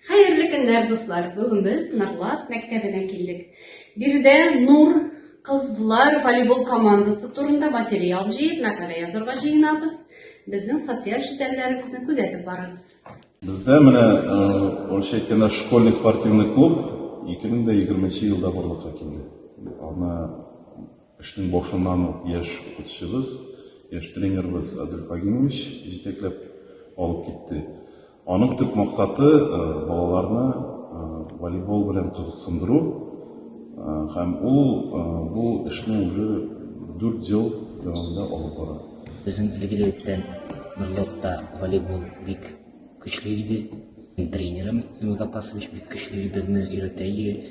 Хәерле көннәр, дуслар! Бүген без Нырлат мәктәбенә килдек. Биредә Нур кызлар волейбол командасы турында материал җыеп, мәкалә язырга җыенабыз. Безнең социаль челтәрләребезне күзәтеп барыгыз. Бездә менә Ольшәй кенә школьный спортивный клуб 2020 елда барлыкка килде. Аны Эшнең башыннан ук яшь укытучыбыз, яшь тренерыбыз Адел Фагимович җитәкләп алып китте. Аның төп максаты, балаларны волейбол белән кызыксындыру. Һәм ул бу эшне уже дүрт ел дәвамында алып бара. Безнең билгеле иткән Нурлатта волейбол бик көчле иде. Тренерым Эмиль Гапасович бик көчле безне өйрәтә иде.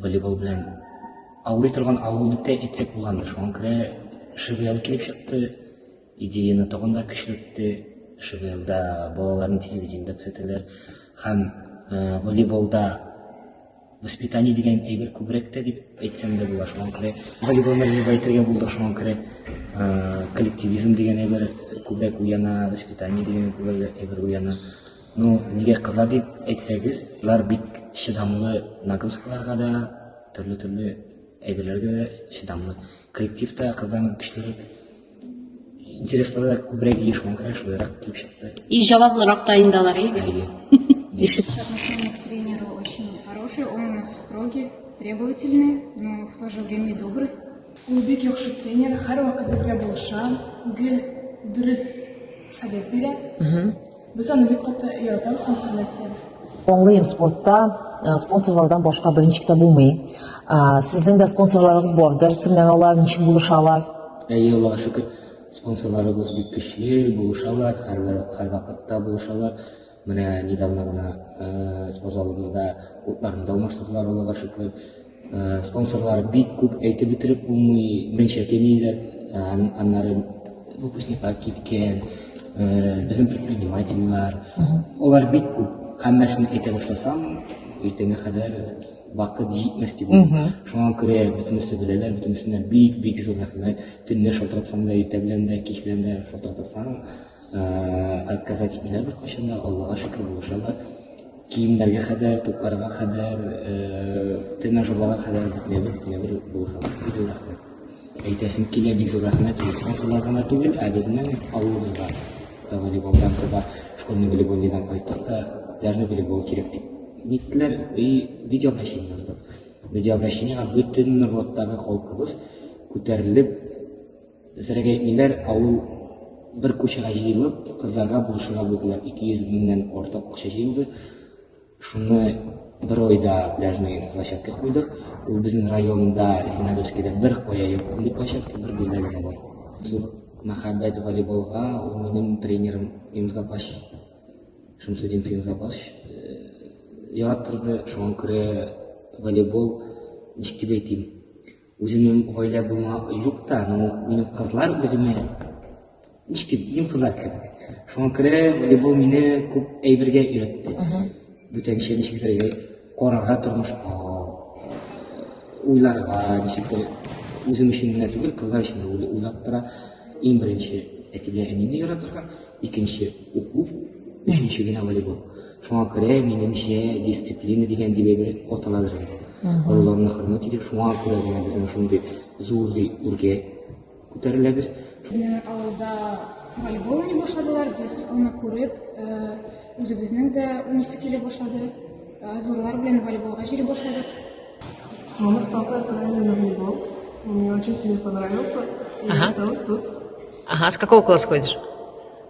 Волейбол белән авырый торган авыл дип тә әйтсәк булгандыр. Шуңа күрә ШВЛ килеп чыкты, идеяны тагын да көчләтте. ШВЛда балаларны телевидениедә күрсәтәләр һәм э, волейболда воспитание дигән әйбер күбрәк тә дип әйтсәм дә була. Шуңа күрә волейболны развивать итәргә булдык. Шуңа күрә э, коллективизм дигән әйбер күбрәк уяна, воспитание дигән күбрәк әйбер уяна. Ну, нигә кыза дип әйтсәгез, кызлар бик чыдамлы нагрузкаларга да, төрле-төрле әйберләргә дә чыдамлы. Коллективта кыздан көчлерәк, интереслары күбрәк еш булган шулайрак килеп чыкты. И җаваплырак та инде алар, әйе бит? Әйе. Дишеп. Отношение к тренеру очень хорошее, он у нас строгий, требовательный, но в то же время и добрый. Ул бик яхшы тренер, һәрвакыт безгә булыша, гел дөрес совет бирә. Без аны бик каты яратабыз һәм хөрмәт итәбез. Аңлыйм, спортта э, спонсорлардан башка беренче китә булмый. Э, Сезнең дә спонсорларыгыз бардыр. Кемнәр алар, ничек булышалар? Әйе, Аллаһка шөкер, спонсорларыбыз бик көчле, булышалар, һәрбер һәр вакытта булышалар. Менә недавно гына э, спортзалыбызда утларны да алмаштырдылар, Аллаһка шөкер. Э, спонсорлар бик күп әйтеп бетереп булмый беренчә әтиләр э, аннары выпускниклар киткән э, безнең предпринимательлар алар бик күп һәммәсен әйтә башласам иртәнгә кадәр вакыт җитмәс дип шуңа күрә бөтенесе беләләр бөтенесенә бик бик зур рәхмәт төнлә шалтыратсаң да иртә белән дә кич белән дә шалтыратасаң отказать итмиләр беркайчан да аллага шөкер булышалар киемнәргә кадәр тупларга кадәр тренажерларга кадәр бөтенебер бөтенебер булышалар бик зур рәхмәт әйтәсем килә бик зур рәхмәт спонсорлар гына түгел ә безнең авылыбызга да волейболдан кызлар школьный волейбольныйдан кайттык та пляжный волейбол кирәк дип ниттеләр и видеообращение яздык видеообращениега бөтен норлаттагы халкыбыз күтәрелеп Дөресрәге әйтмиләр, ә ул бер кучага җыелып, кызларга булышырга булдылар. 200 меңнән артык акча җыелды. Шуны бер айда пляжный площадка куйдык. Ул безнең районда, Зеленодольскида бер кая юк мондый площадка, бер бездә генә бар. Зур мәхәббәт волейболга, ул минем тренерым Фимс Гапач, Шамсудин Фимс Гапач яраттырды. Шуңа күрә волейбол, ничек дип әйтим, Үземнең гаилә булма юк та, но минем кызлар үземә ничек дип, минем кызлар кебек. Шуңа күрә волейбол мине күп әйбергә өйрәтте. Бүтәнчә ничек бергә карарга тормышка, уйларга, ничек бер үзем өчен генә түгел, кызлар өчен дә уйлый- уйлап тора. Иң беренче әти белән әнине яратырга, икенче уку, өченче генә волейбол. Шуңа күрә, минемчә, дисциплина дигән дип әйбер аталадыр инде. Олыларны хөрмәт итеп, шуңа күрә генә безнең шундый зур ди үргә күтәреләбез. Безнең авылда волейбол уйный башладылар, без аны күреп, э, үзебезнең дә уйныйсы килә башлады. Э, Зурлар белән волейболга җыри башладык. Мама с папой отправили на волейбол. Мне очень сильно понравился. И Ага. я осталась тут. Ага, с какого класса ходишь?